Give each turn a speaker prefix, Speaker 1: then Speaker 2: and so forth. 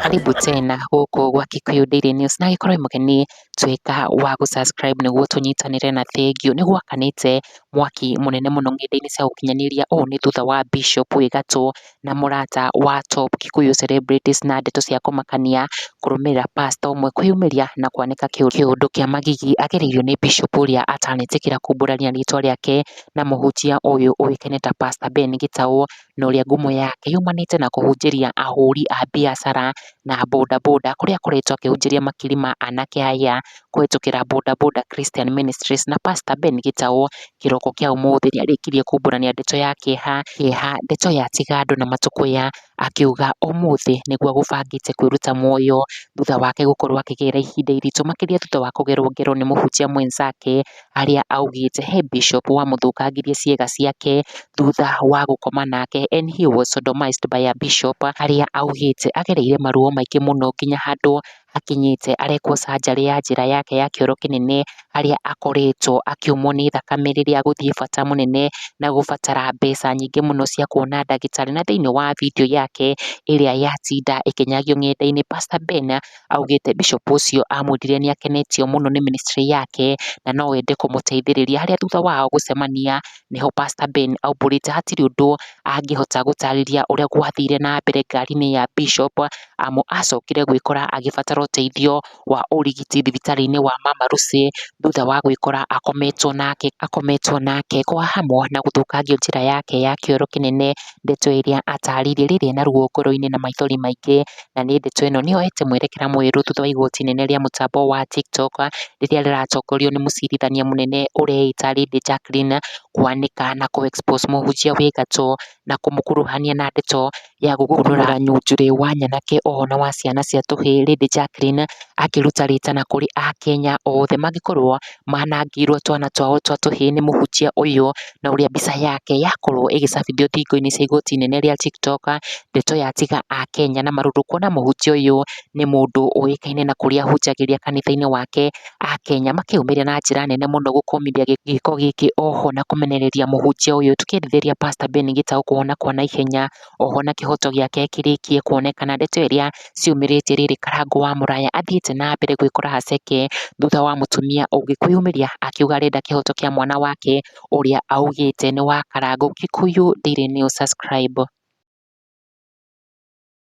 Speaker 1: Karibu tena gũkũ gwa Kikuyu Daily News na gĩkorwo wĩ mũgeni tuĩka wa gũ subscribe nĩguo tũnyitanĩre na thengiũ. Nĩ gwakanĩte mwaki mũnene mũno ng'enda-inĩ cia ũkinyanĩria ũũ nĩ thutha wa Bishop wĩ gatũ na mũrata wa Top Kikuyu Celebrities na ndeto cia kũmakania kũrũmĩrĩra pastor ũmwe kwĩyumĩria na kwanĩka kĩũndũ kĩa magigi agereire nĩ Bishop ũrĩa atanetĩkĩra kumbũrania rĩtwa rĩake na mũhunjia ũyũ ũĩkaine ta Pastor Ben Gĩtaũ na ũrĩa ngumo yake yumanĩte na kũhunjĩria ahũri a biacara na bodaboda kũrĩa akoretwo akĩhunjĩria makiri ma anake aya kũhĩtũkĩra Boda Boda Christian Ministries na Pastor Ben Gĩtaũ kĩroko kĩa ũmũthĩ nĩ arĩkirie kumbũrania ndeto ya kĩeha kĩeha ndeto ya tiga andũ na matũkũya akiuga ũmũthĩ nĩguo agũbangĩte kwĩruta muoyo thutha wake gũkorwo akĩgerera ihinda iritũ makĩria thutha wa kũgerwo ngero nĩ mũhunjia mwenzake arĩa augĩte he bishop wamũthũkangirie ciĩga ciake thutha wa gũkoma nake and he was sodomized by a bishop arĩa augĩte agereire maruo maingĩ mũno nginya handũ akinyĩte arekwo canjarĩ ya njĩra yake ya kĩoro kĩnene harĩa akoretwo akiumwo nĩ thakame rĩrĩa agũthiĩ bata mũnene na gũbatara mbeca nyingĩ mũno cia kuona ndagĩtarĩ. Na thĩiniĩ wa video yake ĩrĩa yatinda ĩkĩnyagio ng'enda-inĩ Pastor Ben augĩte Bishop ũcio amwĩrire nĩ akenetio mũno nĩ ministry yake na no ende kũmũteithĩrĩria. Harĩa thutha wao gũcemania nĩho Pastor Ben aumbũrĩte hatirĩ ũndũ angĩhota gũtarĩria ũrĩa gwathire na mbere ngari-inĩ ya Bishop amu acokire gwĩkora agĩbatara ũteithio wa ũrigiti thibitarĩ-inĩ wa Mama Lucy, thutha wa gwĩkora akometwo nake akometwo nake kwa hamu na gũthũkangio njĩra yake ya kĩoro kĩnene, ndeto ĩrĩa atarire rĩrĩ na ruo ngoro-inĩ na maithori maingĩ, na nĩ ndeto ĩno nĩ yoete mwerekera mwerũ thutha wa igoti inene rĩa mũtambo wa Tiktok, rĩrĩa rĩratongorio nĩ mũcirithania mũnene ũreĩta Lady Jacqueline, kwanĩka na kũ expose mũhunjia wĩ gatũ, na kũmũkuruhania na ndeto ya gũkũũrũra nyunjurĩ wa nyanake oho na wa ciana cia tũhĩĩ Lady Jacqueline akĩruta rĩtana kũrĩ akenya othe mangĩkorwo manangĩirwo twana twao twa tũhĩĩ nĩ mũhunjia ũyũ na ũrĩa mbica yake yakorwo ĩgĩcabithio thingo-inĩ cia igoti inene rĩa Tiktok ndeto ya tiga akenya na marurũkwo na mũhunjia ũyũ nĩ mũndũ ũĩkaine na kũrĩa ahunjagĩria kanitha-inĩ wake, akenya makĩyũmĩria na njĩra nene mũno gũkũmithia gĩko gĩkĩ oho na kũmenereria mũhunjia ũyũ, tũkĩendithĩrĩria Pastor Ben Gitau kũhona kwa naihenya, oho na kĩhoto gĩake kĩrĩkie kuonekana, ndeto ĩrĩa ciumĩrĩtie rĩrĩ, Karangũ wa Mũraya athiĩte na mbere gwĩkora haceke, thutha wa mũtumia ũngĩ kwĩyumĩria akiuga arenda kĩhoto kĩa mwana wake, ũrĩa augĩte nĩ wa Karangũ, Kikuyu Daily News, subscribe.